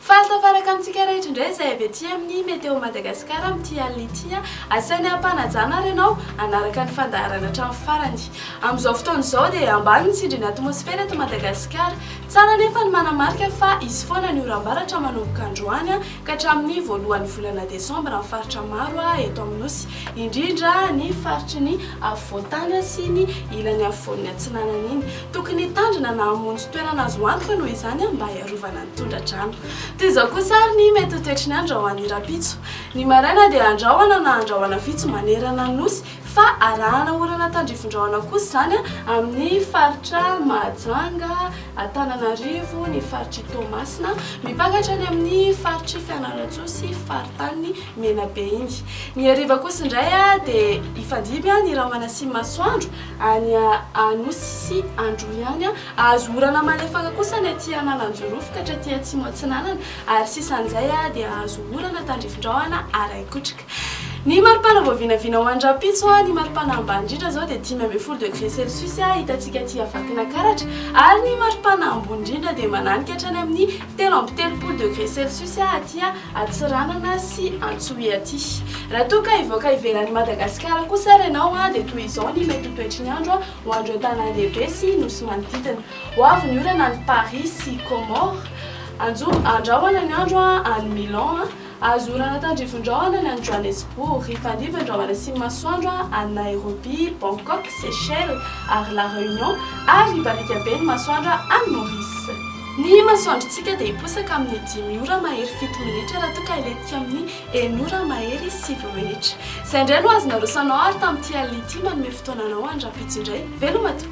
Fahatafaraka amintsika rehetra indray izay avy aty amin'ny Météo Madagascar amin'ity alina ity. Asaina hampanajana ary ianao hanaraka ny fandaharana hatramin'ny farany. Amin'izao fotoana izao dia ambany ny tsindrin'ny atmosfera eto Madagasikara. Tsara anefa ny manamarika fa hisy foana ny oram-baratra manomboka androany. Ka hatramin'ny voalohan'ny volana desambra amin'ny faritra maro eto amin'ny Nosy, indrindra ny faritry ny afovoan-tany sy ny ilany afovoan'ny atsinanana iny. Tokony hitandrina na hamonjy toerana azo antoka noho izany mba hiarovana ny tondra-drano. Toy izao kosa ary ny mety ho toetry ny andro ho an'ny rahampitso. Ny maraina dia andrahona na andrahona vitsy manerana ny Nosy. Fa arahana orana tandrivindrahona kosa izany amin'ny faritra Mahajanga, Antananarivo, ny faritr'i Toamasina, mimpanga hatrany amin'ny faritr'i Fianarantsoa sy faritanin'i Menabe iny. Ny hariva kosa indray dia hifandimby ny rahona sy masoandro any Anosy sy Androhiany. Hahazo orana malefaka kosa ny aty Analanjirofo ka hatraty Atsimo Atsinanana ary sisan'izay dia hahazo orana tandrivindrahona araikotrika. Ny maripana vao vinavina ho any rahampitso, ny maripana ambany indrindra izao dia dimy ambin'ny folo degré celsius hitantsika aty Vakinankaratra, ary ny maripana ambony indrindra dia mananika hatrany amin'ny telo amby telopolo degré celsius aty Antsiranana sy Antsohihy aty. Raha toa ka hivoaka ivelan'i Madagasikara kosa ary ianao dia toy izao ny mety ho toetry ny andro ho an'ireo tanàn-dehibe sy nosy manodidina. Ho avy ny orana any Paris sy Comores, anjo andrahona ny andro any Milan. Azo orana tandrivindrahona any an Johannesburg, ifandrivindrahona sy ny masoandro any Nairobi, Bangkok, Seychelles ary La Réunion ary ibariaka be ny masoandro any Maurice. Ny masoandrontsika dia hiposaka amin'ny dimy ora mahery fito minitra raha toa ka hilentika amin'ny enina ora mahery sivy minitra. Izay indray no azo naroso anao ary tamin'ity alina ity manome fotoana anao any rahampitso indray veloma tokoa.